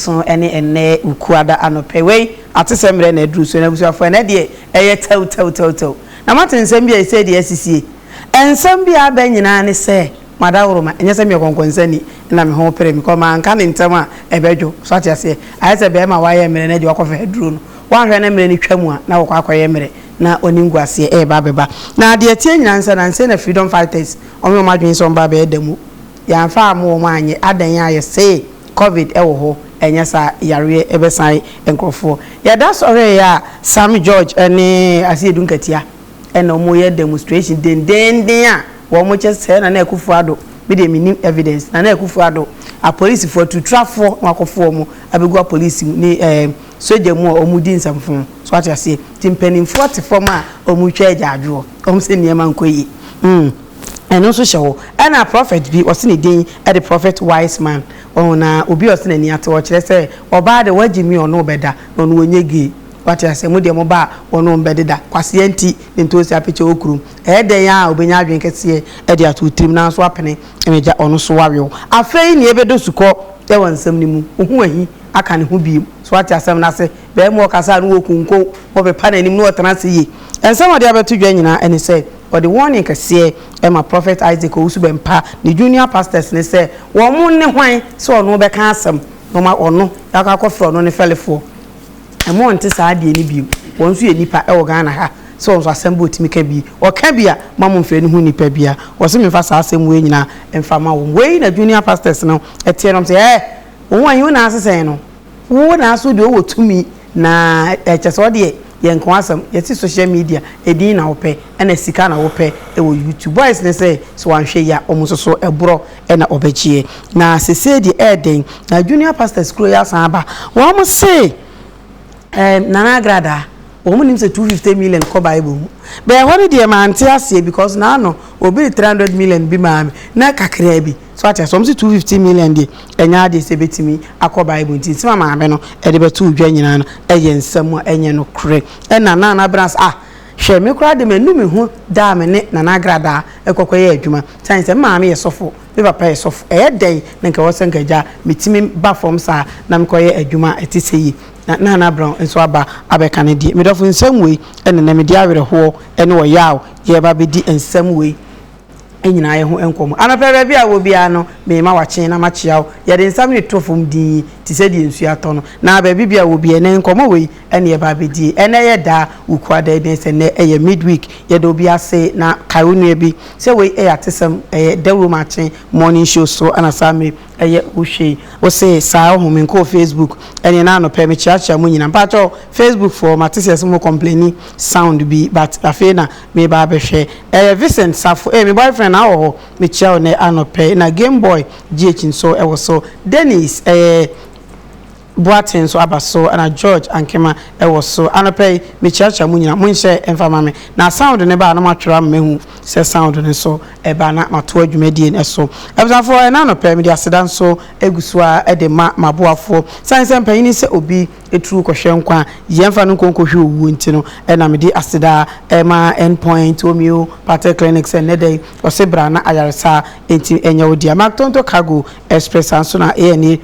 So ɛne ɛnnɛ Wukuada anɔpɛ wei atesɛm berɛ na aduru so? N'abusuafoɔ ɛnnɛ deɛ ɛyɛ tɛw tɛw tɛw tɛw na moate nsɛm bi a ɛsei deɛ asisie ɛnsɛm bi a abɛ nyinaa ne sɛ mo adaworoma ɛnyɛ sɛ meyɛ kɔnkɔnsani na me ho pere me kɔ manka ne ntɛm a ɛbɛdwo so ate aseɛ ayɛ sɛ bɛrima a wayɛ mmerɛ no ɛdeɛ wakɔfa aduro no woanhwɛ na mmerɛ no twa mu a na wakɔ akɔyɛ mmerɛ na ɔne nguaseɛ ɛreba abɛba na deɛ ɛteɛ nyinaa ne sɛ nansei na freedom fighters wɔn yɛ wɔn adwene sɛ wɔn ba abɛyɛ da mu yɛamfa ammɔ wɔn anyɛ adɛn a yɛsee Covid wɔ hɔ, anyɛ saa yareɛ bɛsan nkorɔfoɔ. Yɛda sɔree a Sam George ne Asiedu Nkatia na wɔn yɛ demonstration dendeenden a wɔn kyɛ sɛ Nana Akufo Addo, me deɛ mennim evidence, Nana Akufo Addo apolisifoɔ atutrafoɔ na wɔakɔfo wɔn abɛgu apolisi mu ne ɛɛ sogya mu a wɔn di nsɛmfo. So wate aseɛ? Nti mpaninfoɔ te fam a wɔn retwa agyaadwoɔ, wɔn sɛ nneɛma nkɔ yie. Hmm. Ɛno nso hyɛ hɔ. Ɛna prɔfɛt bi, wɔse ne din de Prɔfɛt Wiseman, wɔho na obi a ɔse n'ani atew, ɔkyerɛ sɛ ɔbaa de wagye me ɔne wo bɛda, na ɔno ɔnyɛ gay. Wate aseɛ? Mo deɛ mo ba a wɔne wo bɛdeda, kwasea nti, ne ntoosi apekye wɔ kurom. Ɛyɛ dɛn ara a ɔbɛnya adwene kɛseɛ de ato wo tirim, nanso woapene, m'agya, ɔno nso wawe wo. Afei nea ɛbɛdɔ sukɔ wɔ nsɛm no mu, wo ho ahi aka ne ho bio. So woate asɛm no ase? Barima a ɔkasa a ne wɔ konko, wɔbɛpa n'anim na ɔtena ase yie. Nsɛm a ɔde abɛto dwa nyinaa ne sɛ, Ɔde warning kɛseɛ ma Prophet Isaac Owusu-Bempah ne junior pastors no sɛ wɔn ne hwan sɛ ɔno bɛka asɛm na wɔn a ɔno akɔ akɔfrɛ ɔno ne fɛlefoɔ. Ɛmma ɔnte saa adeɛ no bio. Wɔn nso yɛ nnipa wɔ Ghana ha sɛ wɔn nso asɛm bi ɔtumi ka bi, ɔka bi a mma mo mfrɛ no ho nnipa bia. Wɔse memfa saa asɛm wei nyinaa mfa ma wɔn. Wei na junior pastors no teɛ na wɔse ɛɛ wo ho ahi wo nan ase sɛn no. Wo naaso deɛ ɔwɔ tumi na ɛkyɛ sɛ ɔdeɛ yɛ nka w'asɛm yɛse social media ɛdin na wopɛ ɛna sika na wopɛ ɛwɔ YouTube boys no sɛ sɛ wanhwɛ yie a ɔmo nso so ɛborɔ ɛna ɔbɛgyeɛ na sesei deɛ ɛɛdɛn na junior pastors kuro yi asan aba wɔn se ɛɛm Nana Agradaa wɔn nim sɛ two fifty million kɔ bible mu bɛɛ hɔ no deɛ mante aseɛ because naano obi de three hundred million bi maa me na kakraa bi. So ate aseɛ? Wɔse two fifty million deɛ ɛnyɛ adeɛ sɛ ɛbɛtumi akɔ Bible nti nsɛm a maame no de bɛtoo dwa nyinaa no ɛyɛ nsɛm a ɛnyɛ nokorɛ. Ɛna Nana Abena se ah hwɛ me koraa deɛ manu me ho da a me ne Nana Agradaa ɛkɔkɔyɛ adwuma sane sɛ me maame yɛ sɔfo, me papa yɛ sɔfo ɛyɛ dɛn na nka ɛwɔ sɛ nka agya metumi ba fam saa na mekɔyɛ adwuma a ɛte sɛ yei na Nana Abena nso aba abɛka ne deɛ. Medɔfo nsɛm wei na ɛnɛ mede awerɛhoɔ ne ɔyaw yɛreba abɛdi nsɛm wei. nyinaa yɛ ho nkɔmmɔ. Anɔpa yi, baabi a wɔ biara no, merema w'akyen na makyea wo. Yɛde nsam reto fam dinn yi te sɛ deɛ nsuo atɔ no. Na baabi biara wɔ biara, ɛnnɛ nkɔmmɔ wei na yɛreba abɛdie. Ɛnnɛ yɛ da a wokura da yi bɛn sɛ nnɛ yɛ midweek. Yɛda obi ase na kae wo nua bi sɛ wei yɛ atesɛm, ɛyɛ dawuro mu akyen morning show so na saa mmere yɛ wohwɛ yi. Wo se saa ɔho me nkɔɔ facebook ɛneɛ na anɔpa yi mekyeakyea mo nyinaa. Mpakyɛw facebook foɔ mate sɛ ɛse mo complaini sound bi but afei na meba abɛhwɛ ɛyɛ Vincent Safo ee me boyfriend awɔ hɔ mekyia wo nɛ anɔpɛ na game boy GH nso ɛwɔ so Dennis ɛɛ Boateng nso aba so ɛna George Ankema ɛwɔ so anɔpɛ yi mekyiakyia mo nyina monhyɛ ɛmfa ma me na sound no ba a na moatwerɛ ama mahu sɛ sound no nso ɛba na matoa dwumadie no so abusuafoɔ ɛna anɔpɛ mede aseda nso ɛgu so a ɛde ma maboafoɔ sane sɛ mpanyini sɛ obi tru kɔhwɛ nkwa a yɛmfa no nkɔ nkɔhwɛ owuo nti no na mede aseda ma End Point Homeopathic Clinic sɛ nnɛ da yi ɔse bra na ayaresa nti ɛnyɛ wo dea. Mactonto Cargo Express saa nso na ANA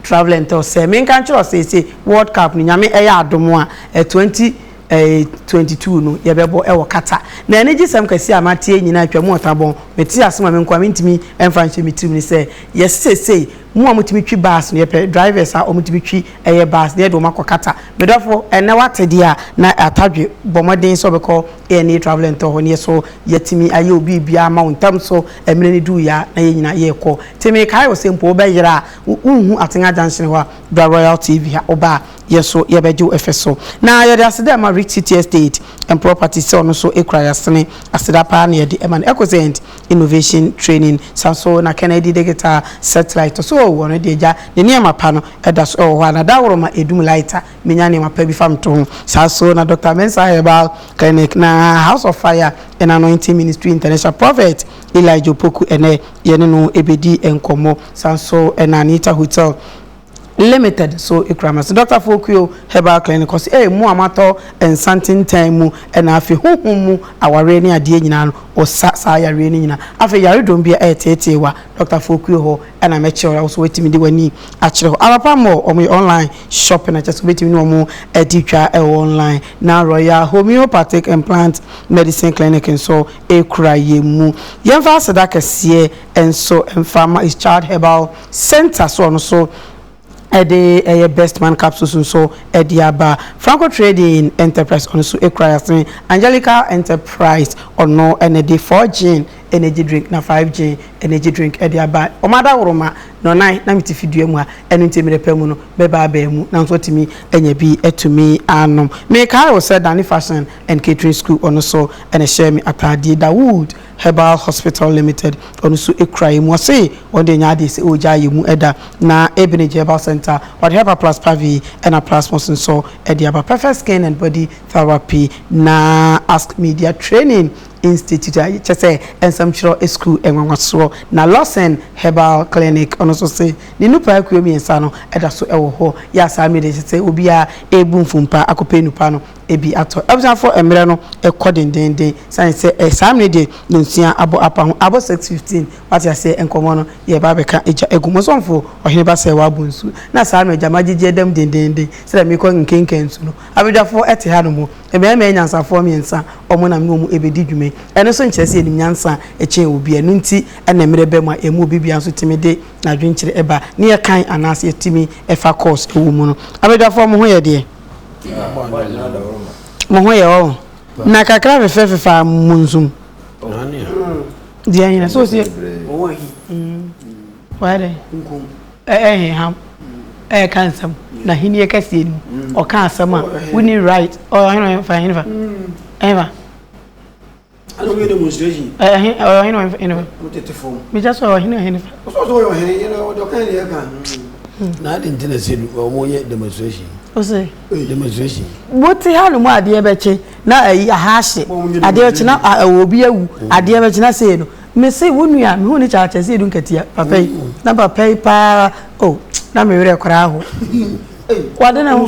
Travel and Tours sɛ menka nkyerɛ wo seesei World Cup no Nyame ɛyɛ adom a 2022 no yɛbɛbɔ wɔ Qatar na anigyesɛm kɛseɛ a mateɛ nyinaa atwam ɔtabɔn metee ase ma me nkoa mentumi mfa nhyɛ me tirim ne sɛ yɛse seesei Mo a motumi twi bus no, yɛpɛ drivers a wɔtumi twi ɛyɛ bus na yɛde wɔn akɔ Qatar. Me dɔfo, ɛnnɛ woate deɛ a na Atadwe bɔ mmɔden sɛ ɔbɛkɔ ANA Travel and Tour hɔ no, yɛ so yɛatumi ayɛ wo biribiara ama wo ntɛm so. Mmerɛ no duruiɛ a na yɛn nyinaa yɛrekɔ. Te mekae wo sɛ mpo wobɛyera a, wonhu Atenga Junction hɔ a, bra Royal TV ha. Woba a, yɛ so yɛbɛgye wo ɛfɛ so. Na yɛde aseda ma Rich City Estate and Properties sɛ ɔno nso kura yɛasene. Aseda paa na yɛde ma no. Ecosaint, Innovation Training san so na Kennedy Digital Satellite to so wɔ no deɛ gya ne nneɛma pa no da so wɔ hɔ a na daworo ma ɛdum light a menya nneɛma pa bi fa meto ho saa so na Doctor Mensah Herbal Clinic na House of Fire and Anointing Ministry International Prophet Elijah Opoku ɛnɛ yɛne no ɛbɛdi nkɔmmɔ san so na Anita Hotel Limited so kura me so. Doctor Fokuo Herbal Clinic kɔ so ee mo a moatɔ nsa ntentan mu na afei honhom mu awareɛ ne adeɛ nyinaa no wɔsa saa yareɛ no nyinaa. Afei yaredɔm bi a ɛreteetee wo a Doctor Fokuo hɔ na mɛkyerɛ wo na wo nso woatumi de w'ani akyerɛ hɔ. Arapa Mall wɔyɛ online shopping kyerɛ sɛ wobɛtumi ne wɔn adi twa wɔ online na Royal Homeopathic and Plant Medicine Clinic nso kura yɛn mu. Yɛmfa aseda kɛseɛ nso mfa ma his child herbal center so ɔno nso ɛde ɛyɛ best man capsules nso ɛde aba franco trading enterprise ɔno nso ekura yasin angelica enterprise ɔno ɛna de four gin energy drink na five gin energy drink ɛde aba ɔmo ada woroma na ɔnan na mete fidua mu a ɛno nti mmerɛ pɛ mu no bɛba abɛn mu na nso atumi anya bi atumi anom mekae wɔ sɛ dani fashion and catering school ɔno nso ɛna hyɛ me ataade da wood Herbal Hospital Limited, ɔno nso kura yɛ mu. Ɔse wɔn deɛ ɛnyɛ adeɛ sɛ ɔregya yɛ mu da. Na Ebinage Herbal Centre, wɔde Herbal Plus Pavi ɛna Plasmos nso de aba. Perfect Skin and Body Therapy na Ask Media Training Institute a kyɛ sɛ nsɛmtwerɛ sukuu nwanwasoɔ. Na Lawson Herbal Clinic, ɔno nso se ne nnupa akuo mmiɛnsa no da so wɔ hɔ. Yɛ a saa mmerɛ deɛ kyɛ sɛ obiara rebu mfompa akɔpɛ nnupa no. bi atɔ. Abusuafo mmerɛ no kɔ dendeenden sane sɛ eh saa mmerɛ deɛ nyensua abɔ apa ho abɔ six fifteen wate aseɛ nkɔmɔ no yɛ ba abɛka gya agu mu ɔsomfo ɔhene ba sɛ wabɔ nsu na saa mmerɛ gya magyegye ɛdam dendeenden sɛdeɛ merekɔ nkenkan nsu no abadwafoɔ te ha nom mmarima anyansafoɔ mmiɛnsa wɔn na me ne wɔn ɛbɛdi dwuma yi ɛno nso nkyerɛ sɛ yɛnim nyansa kyɛn obi ɛno nti na mmerɛ ba mu a yɛn mu obi biara nso tumi de n'adwenkyerɛ ɛba ne yɛkan anaasɛ yɛtumi ɛfa course ɛwɔ mu no abadwafoɔ mo ho yɛ deɛ. mo ho yɛ ɔho na kakra fefɛ fefa mo nsum di ɛhin na so si wayɛ dɛ ɛhin ham ɛyɛ ka nsɛm na hini yɛ kɛseɛ ni ɔka asɛm a woni right ɔhin fa ɛhin fa ɛhin fa. Ɛna ɔmo yɛ demonstration. Ɛyɛ ɔhen ɔyɛ ɔhen ɔhen ɔhen fa. Mo tete fam. Mekyɛ sɛ ɔhen ɔhen fa. Ɔsɔ ɔsɔ ɔyɛ ɔhen yɛ na ɔdɔ kan yɛ ɛka. Na adi nti na sɛ ɔmo yɛ demonstration. Ose. Demonstration. Wote ha no mu adeɛ bɛkye na ayi aha ahye adeɛ bɛkye na ɛwɔ obi awu adeɛ bɛkye na sei no mese wo nua mehu ne kyakyɛ sɛ edu nkatia papa yi na papa yi paa o na me werɛ koraa ho wade ne ho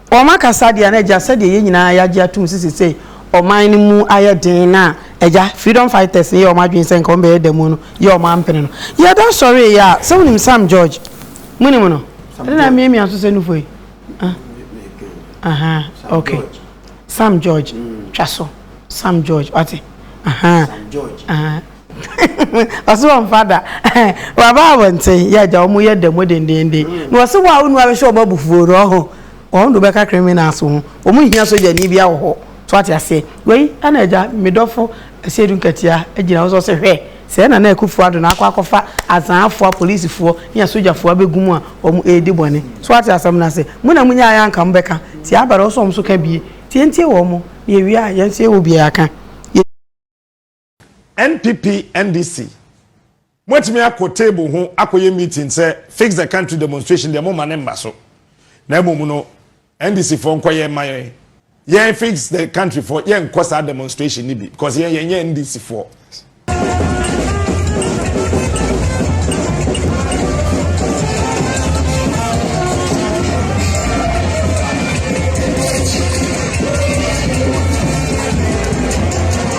Wɔn akasa deɛ no agya sɛdeɛ yɛn nyinaa yɛagye atom sɛ sesei ɔman no mu ayɛ den no a agya freedom fighters no yɛ wɔn adwene sɛ nka wɔn bɛyɛ da mu no yɛ wɔn ampene no yɛda sɔree yɛ a sɛ wonim Sam George mo nim no ɛne na miamia so sɛ nufo yi ahaa ok Sam George twa so Sam George wate ahaa ahaa. Ɔse wɔmfa da Waba abɔnten yɛ agya wɔn yɛ da mu dendeenden Na ɔse wo a wonua bɛhyɛ wɔn abufuo no ɔho Wɔn de wobɛka criminals ho Wɔn nhia sogyani bia wɔ hɔ So wate aseɛ Wei ɛna agya me dɔfo Asiedu Nkatia agyina hɔ sɛ ɔse hwɛ Sɛɛ Nana Akufo Addo na akɔ akɔfa Azaafoɔ apolisifoɔ ne asogyafoɔ abɛgu mu a wɔn redi bɔne So wate asɛm no ase Mo na monyaeɛ a anka mobɛka Nti abɛrɛ wo sɛ wɔn nso ka bie Nti yɛntie wɔn Na yɛwie a yɛn nso yɛwɔ bi a yɛaka NPP NDC moatumi akɔ table ho akɔyɛ meeting sɛ fix the country demonstration deɛ moma ne mma so na mmom no NDC foɔ nkɔyɛ mma yɛn yɛn fix the country foɔ yɛn nkɔ saa demonstration no bi because yɛn yɛn yɛ NDC foɔ.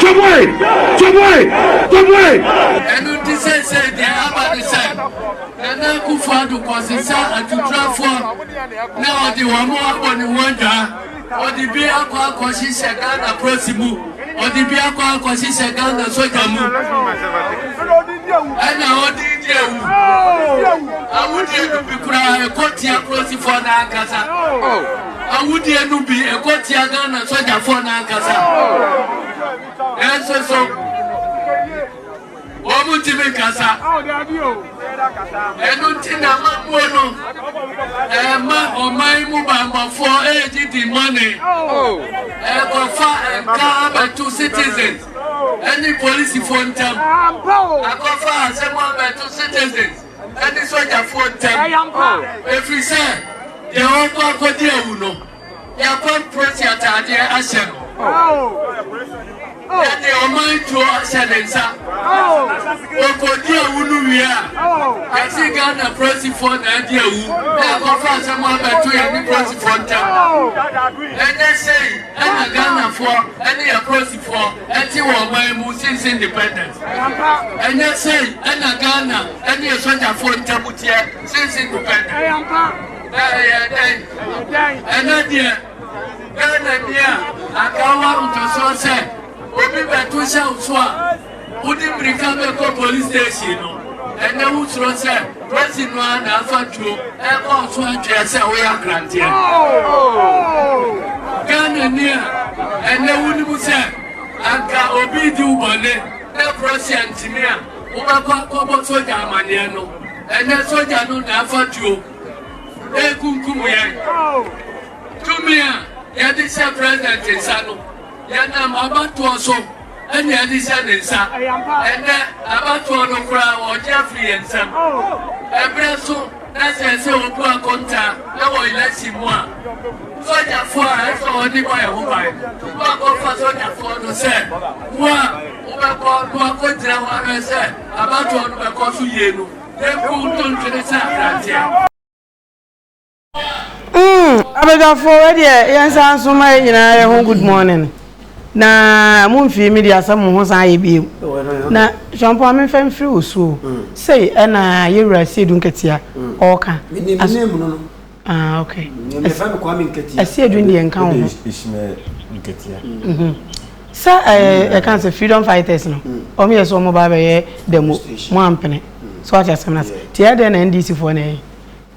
Twaboe! Twaboe! Twaboe! Ɛno nti seesei deɛ aba ne sɛ Nana Akufo-Addo kɔsesa atuturafoɔ na ɔde wɔn abɔ ne ho adwaa. Ɔde bi akɔ akɔhyehyɛ Ghana polisi mu, ɔde bi akɔ akɔhyehyɛ Ghana sogya mu, ɛna ɔde di awu. Awudie no bi koraa ɛkɔ tia polisifoɔ no ankasa. Awudie no bi ɛkɔ tia Ghana sogyafoɔ no ankasa. Nanso so wɔn ntumi nkasa. Ɛno nti na amammuo no ɛma ɔman mu bammɔfoɔ ɛregye di mɔne. Ɛkɔfa nka abɛto citizens ɛne polisifoɔ ntam. Akɔfa asɛm abɛto citizens. ne sogyafoɔ ntam, ɛfiri sɛ deɛ ɔrekɔ akɔdi awu no, yɛakɔmprɛsi ataadeɛ ahyɛ no, na deɛ ɔman tuo ahyɛ ne nsa. Ɔkɔdi awu no wie a, ɛsi Ghana polisifoɔ na adi awu na ɛkɔfa asɛm abɛto yɛne polisifoɔ ntam. Ɛnyɛ sei ɛna Ghanafoɔ ne yɛ polisi fɔ ɛte wɔ ɔman yi mu since independence ɛnyɛ sei ɛna Ghana ɛne esogyafoɔ ntamu teɛ since independence ɛyɛ dɛn ɛnɛ deɛ Ghana ni a anka wa mfasoɔ sɛ obi bɛto hyɛ nso a Wode mmirika bɛkɔ police station no ɛnɛ wo suro sɛ presi no ara na afa tuo ɛkɔ so atweɛ sɛ woyɛ akranteɛ. Ghana ni a ɛnɛ wonim sɛ anka obi di wo bɔne na presi antimi a wobɛkɔ akɔbɔ sogya amaneɛ no ɛnɛ sogya no na afa tuo ɛkunkum yɛn. Tumi a yɛde hyɛ president nsa no Yɛnam abatoɔ so na yɛde hyɛ ne nsa. Ɛnnɛ, abatoɔ no koraa ɔregye afiri yɛn nsam. Ɛberɛ nso na ɛsɛ sɛ ɔbu akontaa wɔ election mu a, sogyafoɔ a ɛsɛ sɛ ɔde bɔ yɛn ho ban no, woakɔfa sogyafoɔ no sɛ mo a mobɛkɔ na wakɔgyina hɔ ahwɛ sɛ abatoɔ no bɛkɔ so yie no, yɛnkum ntontwene sɛ aberanteɛ. abadwafoɔ wɛ deɛ yɛnsa nso ma yɛ nyinaa yɛ ho good morning na mo mfiri mi deɛ asɛ mo ho san yɛ bio na sɔmpo a memfa mfiri wo suo sei ɛna yɛwura sie du nketea ɔɔka ɛsie du deɛ nka wo ho sɛ ɛka sɛ freedom fighters no ɔmo yɛ sɛ ɔmo ba bɛyɛ dɛmo mo ampene so ate asɛm no ase tiɛ dɛn na ndc foɔ na ɛyɛ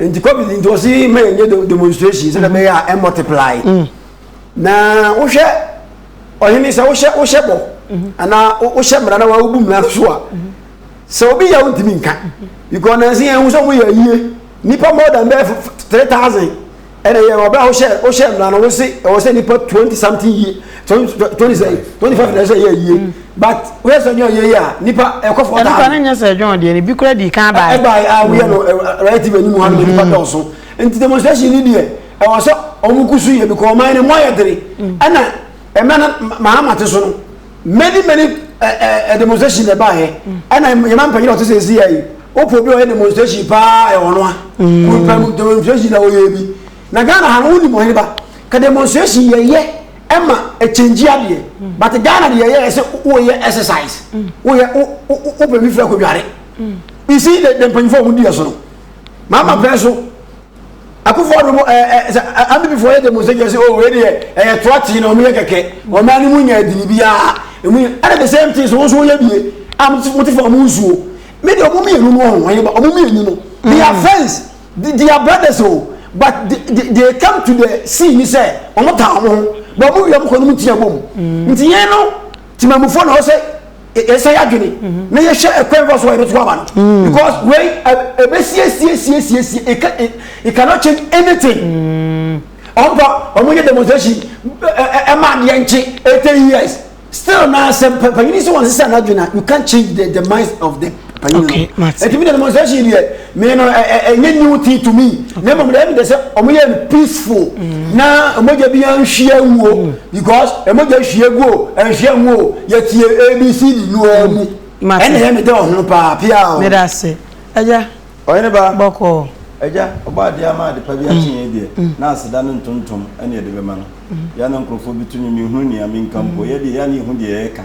nti covid nti ɔsi mɛ yɛ nye demonstration sɛ ɛbɛyɛ a ɛ multiply mm. na wohwɛ ɔhene sɛ wohyɛ wohyɛ bɔ mm-hmm. anaa wohyɛ mmara na wobu mmara no so a mm-hmm. sɛ obi yɛ wo ntumi nka mm-hmm. because nansi yɛn ho sɛ wɔyɛ yie nipa more than bɛɛ three thousand. Ɛna yɛ wɔ bere a wohyɛ wohyɛ mmara no wose ɛwɔ sɛ nipa twenty something yie twenty sɛ twenty five na ɛsɛ yɛ yie mm. but woyɛ sɛ ɔnyɛ ɔyɛ yie a nipa ɛkɔ fɔ ɔtaa. nipa ne nyɛ sɛ ɛdwon deɛ ne bi kura di kan baa. ɛbaa a ah, woyɛ no relative anim ha no nipa mm-hmm. dɔɔso nti demonstration ni deɛ ɛwɔ sɛ wɔn kusu yɛ bi kɔ ɔman ne mu ayɛ dere mm. ɛna ɛmɛ na mahama te so no. many many ɛɛ eh, eh, eh, demonstration na ɛbaa yɛ ɛna yɛn ma mpanyin a ɔte sɛ esi yɛ yi wopɔ obi a ɔyɛ demonstration paa ɛyɛ ɔno a kɔnpɛn demonstration na ɔyɛ bi na ghana ha no wɔn nim ɔhene ba ka demonstration yɛ yɛ ɛma ɛkyɛngyi adeɛ but ghana deɛ yɛ ɛsɛ wɔyɛ exercise wɔyɛ wɔpɛ bi fira kɔ dware isi de de mpanyinfoɔ a wɔn di yɛ so no maa ma pɛn so. Akufo Addo mu ɛɛ ɛɛ sɛ ambibifoɔ yɛ demonstration sɛ oh wei deɛ ɛyɛ toa tee na wɔn yɛ kɛkɛ wɔn nan no mu nyɛ adini biara emu yɛ ɛna the same thing so wɔn so wɔyɛ bie a wɔn ti wɔn ti fa wɔn nsuo mi deɛ wɔn mmienu no wɔn yɛ ba wɔn mmienu no they are friends they, they are brothers o but they, they, they come to the scene sɛ wɔn ta wɔn ho but wɔn wia wɔn kɔ no mu tia bom nti yɛn no. Temamufoɔ na ɔsɛ yɛsɛ yɛadwene na yɛhwɛ ɛkwan fa so a yɛbɛto ama no mm. because wei ɛbɛsiesiesiesiesie e, e, e, it cannot change anything mm. ɔmpa ɔmo yɛ demonstration ɛma adeɛ nkye eighty years still na sɛ mpanyini sɛ wɔn sisa n'adwene a you can't change the the minds of them. panyin no okay mate eti mi demonstration deɛ mi no ɛnyɛ new thing to me na mmom deɛ ɛmi de sɛ wɔn yɛ no peaceful mm. na ɛmɔgya bi anhyia wuo mm. because ɛmɔgya hyia gu o ɛnhyia ngu o yɛtie abc di nu ɔmu mm. ɛna yɛ mi dɛ ɔhono paa pia o. mi da se ɛgya ɔyɛne ba bɔkɔ ɛgya ɔbɔ adeɛ ama adepa bi akye yɛn deɛ na aseda ne ntontom ɛne ɛde bɛma no yɛn na nkurɔfoɔ bi tumi mi hu nea mi nka mpo yɛ deɛ yɛn na ehu deɛ yɛka.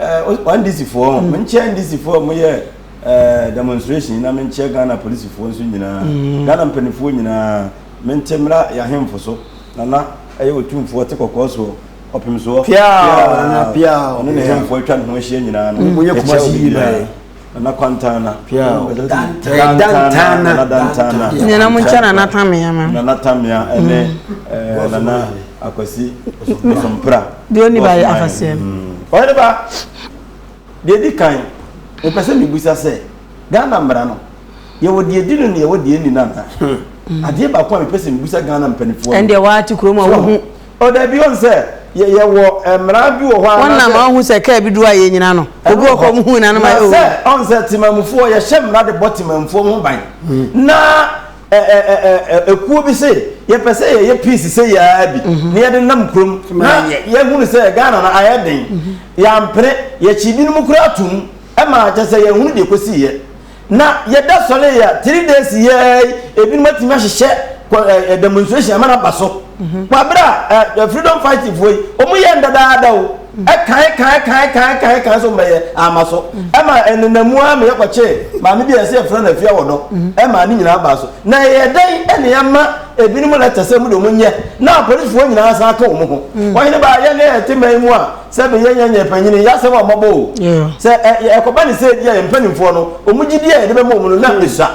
ɛɛ ndisifoɔ ho menkyɛ ndisifoɔ mo yɛ ɛɛ demonstration na menkyɛ ghana polisifoɔ nso nyinaa mm. ghana mpanimfoɔ nyinaa mente mmra yɛahemfo so nana ɛyɛ otumfoɔ te kɔkɔɔ soɔ ɔpem soɔ piaa ɔno ne hemfoɔ atwa ne ho ahyia nyinaa no ɛkyɛ obi biara Nana Kwantana. Pia o. Dantana. Dantana. Nana Dantana. Nana mo nkyɛn Nana Tamia ma. Nana Tamia ɛne ɛɛ Nana Akwasi Osompra. Deɛ ɔni ba yɛ afaseɛ. Ɔyɛ ne ba. Deɛ di kan, mepɛ sɛ mebusa sɛ Ghana mmara no yɛwɔ deɛ di no na yɛwɔ deɛ nni no anaa? Adeɛ baako a mepɛ sɛ mebusa Ghana mpanimfoɔ no. Ɛndeɛ waa te kurom a wohu. O dabi o nsɛ yɛ yɛ wɔ ɛmra bi wɔ hɔ a. Wɔn nam ɔn hu sɛ kaa bi do a yɛ nyina no obi wɔ kɔ ɔm hu nyina no ma yɛ o. Na sɛ ɔn sɛ timamufoɔ yɛ hyɛ mmra de bɔ timamufoɔ ho ban na ɛ ɛ ɛ ɛ ɛ ɛkuo bi se yɛ pɛ sɛ yɛ yɛ peace sɛ yɛ ara bi na yɛ de nam kurom na yɛ hunu sɛ Ghana no ayɛ den yɛ ampene yɛ kyi binom kura atum ɛma kyɛ sɛ yɛ hunu deɛ kɔ si yɛ. Na yɛda sɔre yɛ a three days yɛ ebinom atumi ahyehyɛ ɛ demonstration ama na ba so mhm. wɔ abira ɛ freedom fight foɔ yi wɔn yɛ ndadaada o mhm. ɛkan kan kan kan kan kan so mbɛyɛ ama so mhm. ɛma ɛnenamu a meyɛ kɔkye maame bi a yɛsɛ yɛfrɛ no afia wɔ dɔ ɛma ne nyinaa ba so na yɛ dɛn ɛne ɛma ebinom lɛtɛ sɛ mu de wɔn nyɛ na apolisifoɔ nyinaa san ka wɔn ho wɔn nyinaa ba yɛ ne ɛte mɛn mu a. Sɛ beyɛ yɛn yɛn panyin yɛ asɛm a ɔma bɔ o. Sɛ ɛkɔba ne sɛ ebi a yɛn mpanimfoɔ no, wɔn gyidie a yɛde bɛma wɔn no na esua.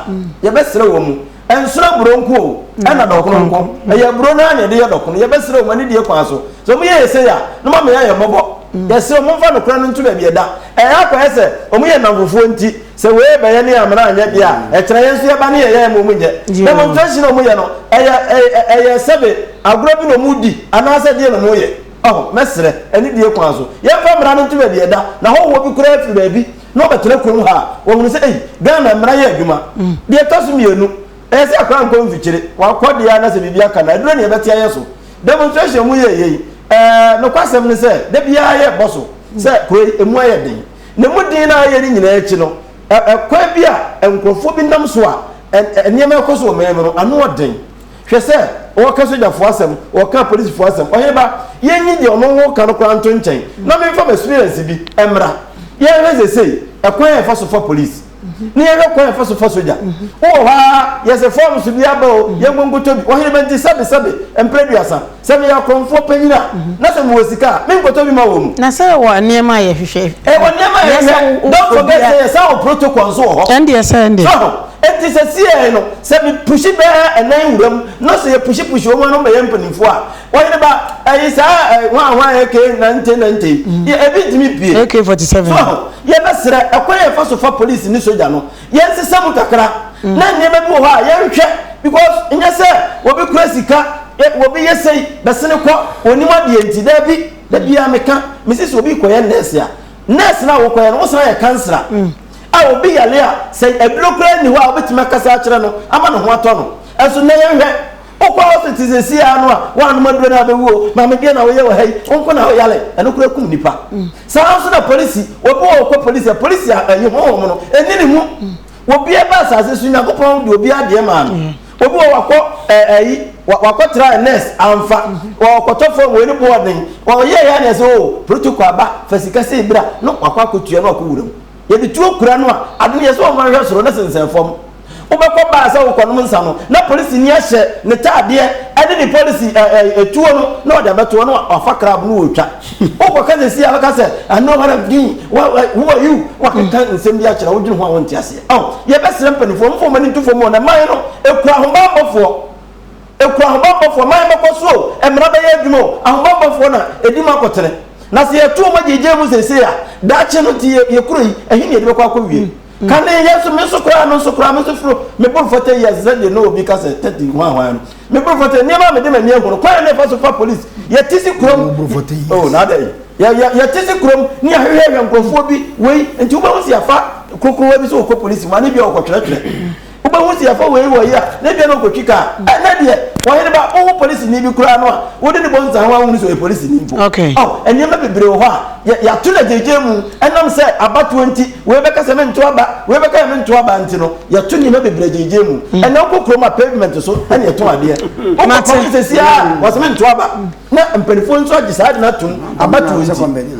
Yɛbɛsrɛ wɔn mu. Ɛnsono aburo nko o, ɛna dɔkono nko. Ɛyɛ aburo no ara na yɛde yɛ dɔkono. Yɛbɛsrɛ wɔn anidie kwan so. Sɛ wɔyɛ yɛn sei a, na moama yɛayɛ mmɔbɔ. Yɛsrɛ wo, momfa nokorɛ no nto baabi ɛda. Ɛyɛ a akɔyɛ sɛ wɔn yɛ nnamfofoɔ nti, sɛ wei bɛ yɛ ne amena anyɛ deɛ a, ɛkyerɛ yɛn nso yɛba ne yɛyɛ ɛma wɔn nyɛ. Na mmom traction a wɔyɛ no, ɛyɛ ɛyɛ sɛbe agorɔ bi na wɔredi anaasɛ deɛ na wɔyɛ. Ɔho, mɛsrɛ, anidie kwan so, yɛmfa mmara no nto baabi a ɛda, na hɔhoɔ bi koraa firi baabi na wɔbɛtena kurom ha a, wɔahunu sɛ, ei, Ghana mmara yɛ adwuma. Deɛ ɛtɔ so mmienu, ɛyɛ sɛ akwadaa nkɔ mfikyire, wakɔ deɛ a na sɛ biribi aka no a, aduro na yɛbɛte ayɛ so. Demonstration a moyɛɛ yei, ɛɛ, nokwasɛm ne sɛ, da biara yɛrebɔ so sɛ kuro yi, ɛmu ayɛ den. Na ɛmu den no a ɛyɛ no nyinaa akyi no, ɛ, ɛkwan bi a nkurɔfoɔ bi nam so a ɛ, ɛ, nneɛma rekɔ so wɔ man mu no, ano yɛ den. Hwɛ sɛ ɔreka sogyafoɔ asɛm, ɔreka apolisifoɔ asɛm. Ɔhene ba, yɛnyi deɛ ɔno ho ka no koraa nto nkyɛn na memfa m'experience bi mmra. Yɛnhwɛ seesei ɛkwan a yɛfa so fa polisi, na yɛnhwɛ kwan a yɛfa so fa sogya. Wowɔ hɔ ara, yɛse forms bi aba o, yɛnkɔ nkɔtɔ bi. Ɔhene ba nti sɛbe sɛbe mprɛ aduasa. Sɛ meyɛ akɔmfoɔ panyin a, na sɛ mewɔ sika a, menkɔtɔ bi ma wɔn. Na sɛ ɛwɔ nneɛma a yɛhwehwɛ. Ɛwɔ nneɛma a yɛhwehwɛ. Don't forget sɛ yɛsan wɔ protocol nso wɔ hɔ. Ɛndeɛ sɛ ɛnde. So ho? Enti sɛsieɛ no, sɛ me pushi bɛɛ ɛnan wura mu, na sɛ yɛ pushi pushi wɔn ano bɛyɛ mpanimfoɔ a, ɔyere ba, ɛyi saa ɛɛ hwan hwan AK nante nante yi, yɛ ebi ntumi pue. AK forty seven. So ho? Yɛbɛsrɛ, ɛkwan a yɛfa so fa police ne sogya no, Yɛnsesa mu kakra na nneɛma bi wɔ hɔ a yɛnhwɛ because nyɛ sɛ obi kura sika eh, obi yɛ sei bɛsene kɔ onim adeɛ nti daabi da biara meka mesi sɛ obi kɔyɛ nurse a nurse no a wokɔyɛ no wosan yɛ kansera a obi yale a sɛ aduro koraa nni hɔ a wobɛtumi akasa akyerɛ no ama ne ho atɔ no ɛnso nnɛ yɛnhwɛ wokɔ hospital sɛsi a no a woanom aduro no a bɛwuo maame deɛ na woyɛ wɔ ha yi wonko na woyale ɛno koraa kum nipa Saa ara nso na polisi, obi wɔ hɔ ɔkɔ polisi a, polisi a ɛyi honhom no ɛni ne mu. Obiara ba asase so, Nyankopɔn de obiara adeɛ maa no. Obi wɔ hɔ wakɔ ɛɛ ɛyi, wakɔ tra nurse, amfa. Ɔkɔtɔ fɔm, wei ne boɔ ɔden. Ɔyɛɛ yɛ a na yɛsɛ oo, protocol aba, fa sika sei bra, na wakɔ akɔtua na wakɔ wura mu. Yɛde tuo kura no a, ade no yɛ sɛ wɔmfa nhwɛ soro na sensɛn fam. Wobɛkɔ baa sɛ wokɔnom nsa no, na polisini ahyɛ ne tadeɛ ne ne polisi ɛ ɛ ɛ tuo no na ɔde abɛtoɔ na wafa crab no ɔretwa. Wokɔka seesei a, ɔbɛka sɛ, I know what I'm doing, wha wha who are you? Wakeka nsɛm bi akyerɛ wo, wodwene ho a wonte aseɛ. Ao, yɛbɛsrɛ mpanimfoɔ mfa wɔn ani nto fam o, na mman no, ɛkura ahobammɔfoɔ. Ɛku ahobanbɔfoɔ ma yɛbɛkɔ so o, mmara bɛyɛ adwuma o, ahobanbɔfoɔ na ɛdi mu akɔtene. Na sɛ yɛto wɔn gyeegyeɛ mu seesei a, daakye no nti yɛ kuro yi, ɛhe na yɛde bɛkɔ akɔwie? Kane, yɛn nso, me nso koraa, me nso koraa, me nso foro, me boro fata yi ase sɛdeɛ na obi ka sɛ thirty hwan hwan no, me boro fata yi, nneɛma a mede m'ani ahunu, kwan a na yɛfa so fa polisi, yɛte se kurom, oh, na adɛn, yɛ, yɛ, yɛte se kurom ne yɛahwehwɛhwɛ nkorɔfoɔ bi, wei, nti wobɛhu sɛ yɛafa kronkron wa bi sɛ ɔkɔ polisi mu, anaa ebia ɔkɔtwerɛtwerɛ. Wobɛhu sɛ yɛfa wei wɔ yi a, na ebia na ɔkɔtwi kaa. Ɛnnɛ deɛ, ɔhene ba, wowo polisini bi koraa no a, wode no bɔ nsa ho a wonhunu sɛ ɔyɛ polisini mpo. Ao, nneɛma bebree wɔ hɔ a, yɛ, yɛato no agyegyeɛ mu. Ɛnam sɛ abatoɔ nti, wei bɛka sɛ mento aba, wei bɛka yɛ mento aba nti no, yɛto nneɛma bebree agyegyeɛ mu. Ɛnnɛ wokɔ kurom a, pavement so na yɛtɔn adeɛ. Wokɔ kwan so seesei ara a, wɔse mento aba. Na mpanimfoɔ nso agye saa ade no atom, abatoɔ nti.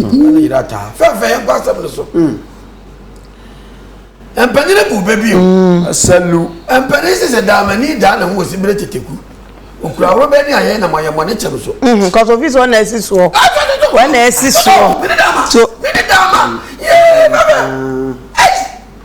ɛno ne yera taa fɛfɛ yɛnkɔ asɛm no so mm. mpanyini bu bɛ bio mm. asalu mpanyini sɛ sɛ daamani daa na ho wɔ si bere teteku okura awuraba ni ayɛ na mo ayɛ mo ne kyɛm so. nkɔsɔ fi so ɔna esi soɔ ɔna esi soɔ. mene dama mene dama yee bɛbɛ ɛyi.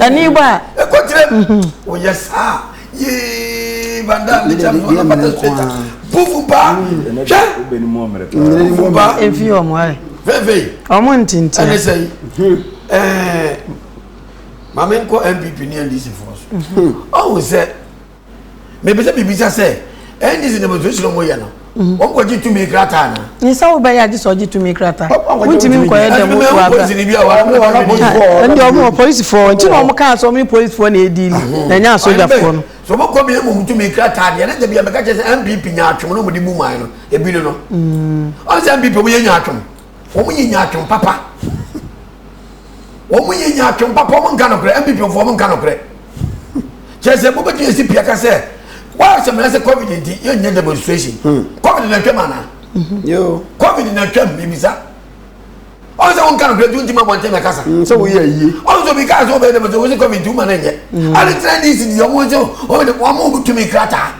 Ani ba. Ɛkɔ kyerɛ. Woyɛ saa. Yee banda mi kyɛ fɔ na pata sɛta. Bufu ba. Hwɛ. Bufu ba. Efi ɔmo ayɛ. Veve. Ɔmo ntintin. Ɛne sɛ yi. Ɛɛ maame nkɔ NPP ne NDC fɔ so. Ɔwɔ sɛ. mepɛ sɛ mebisa sɛ ndc demonstration a wɔyɛ no wɔn kɔ gye tumi krataa na. nsa wo bɛyɛ agye sɛ ɔgye tumi krataa wontumi nkɔyɛ dɛm wɔ aba ɛnde ɔmo wɔ polisifoɔ nti na ɔmo kaa sɛ ɔmo ne polisifoɔ na ɛdi ni na ɛnyɛ asogyafoɔ no. sɛ ɔmo kɔ bia mmom tumi krataa deɛ na gya bia mɛka kyerɛ sɛ npp nya atwom na ɔmo de bu man no ebi no no ɔno sɛ npp ɔmo yɛ nya atwom. wɔn nyɛ nyaatwom papa wɔn nyɛ nyaatwom papa wɔn nka nokorɛ npp fo wɔn nka nokorɛ kyerɛ sɛ mo bɛtumi asi pia ka sɛ wɔn asɛm na sɛ covid nti yɛn nyɛ demonstration hmm. covid na twɛm ana hmm. covid na twɛm mibisa ɔn sɛ wɔn nka nokorɛ tuntun ma bɔntɛn na kasa hmm, sɛ wɔn yɛ yie ɔn sɛ obi kaa sɛ wɔn bɛ demonstration wɔn sɛ covid nti wɔn ma na nyɛ adi tena dc di wɔn sɛ wɔn tumi krataa.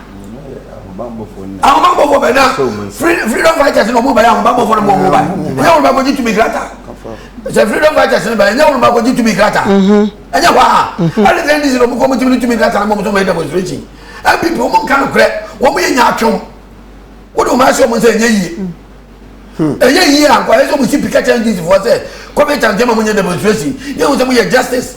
ahobanbɔfoɔ bɛ na freedom fighters na ɔmo bɛyɛ ahobanbɔfoɔ na ɔmo ɔmo ba ɛnyɛ wɔn baako gye tumi krata sɛ freedom fighters na bɛyɛ ɛnyɛ wɔn baako gye tumi krata ɛnyɛ hɔ a ɛne sɛ ndc na ɔmo kɔ ɔmo tumi ne tumi krata na ɔmo tɔmɔ yɛ demonstration npp ɔmo nka no korɛ ɔmo yɛ nyaatwom wode ɔmo ahyɛ ɔmo sɛ ɛnyɛ yie ɛyɛ yie ankɔ ɛyɛ sɛ ɔmo si pikɛkyɛ ndc foɔ sɛ kɔmɛntan gyɛma mo nyɛ demonstration yɛ wɔn sɛ mo yɛ justice.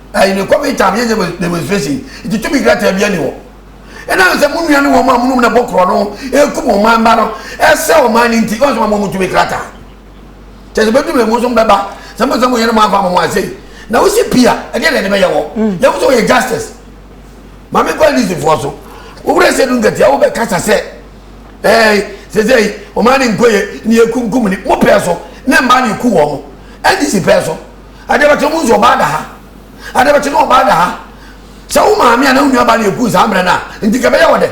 uh, in the COVID time, yes, there was demonstration. It took me greater than anyone. ɛna sɛ mo nua ne wɔn a monom na bɔ korɔ no ɛkum ɔman mma no ɛsɛ ɔman no nti ɔsoma mo motumi krata kyɛ sɛ bɛdum na mo nsom bɛba sɛ mo sɛ mo yɛne mo afa mo ase na wosi pia ɛdeɛ na ɛde bɛyɛ wɔ mm. yɛwo sɛ wɔyɛ justice ma me kɔ lisifoɔ so wowura sɛ du nkatia wobɛkasa sɛ ɛɛ sɛ sɛ ɔman ne nkɔyɛ ne yɛkumkum ne mo pɛɛ so ne mmaa ne ku wɔ mo ɛde si pɛɛ so Adeɛbɛkye no mohu sɛ ɔbaa da ha Adeɛbɛkye no ɔbaa da ha Sɛ wo maame anaa wo nuabaa na ɛkuu saa mmerɛ no a nti ka ɛbɛyɛ wɔ dɛ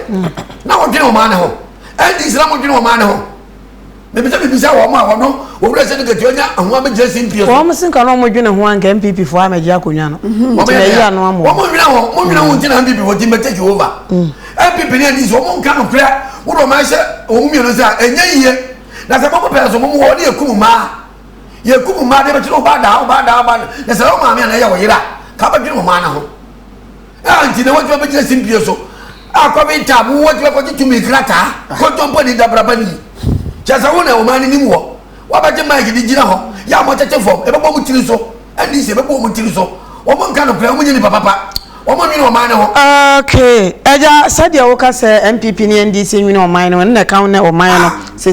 Na wɔdwene ɔmaa no ho Ɛnti sɛ na modwene ɔmaa no ho Mepɛsɛ mebisa wɔn a wɔno Owura Sɛdu Ketua nya ho amɛgyina simpie so. Wɔn se nka na wɔn dwene ho a nka NPP foɔ amɛgye akonwa no Nti na ɛyi ano ama wɔn. Wɔn nwene ho, mo nwene ho nti na NPP foɔ ti mbɛ take over NPP ne NDC wɔn nka nokorɛ Wode wɔn ahyɛ wɔn mmienu nsa a ɛnyɛ yie Na sɛ mo mo pɛ nso mo mo wɔ wɔn de akum mmaa Yɛkum mmaa de bɛkyerɛ wo ba daa, wo ba daa, wo ba daa. Na sɛ wo maame anaa ɛyɛ wo yere a, ka bɛdwene wo mmaa no ho. Ɛha nti na wɔatumi bɛgyina simpie so akɔ benta mu wɔatumi akɔgye tumi krataa kɔntɔmpɔ ne dabraba ni. Kyerɛ sɛ wo na wo mmaa no nim wɔ. Wɔabɛgye maik de gyina hɔ yɛ a wɔkyɛkyɛ fam, ɛbɛbɔ wɔn tiri so. Ɛnni sɛ ɛbɛbɔ wɔn tiri so. Wɔn nka nokorɛ, wɔn nyɛ nipa papa. Wɔn nwene wɔn mmaa no ho. Okay, agya sɛdeɛ woka sɛ NPP ne NDC nwene wɔn mmaa no ho, ɛno na ɛka wo ne wɔn mmaa no. Ah.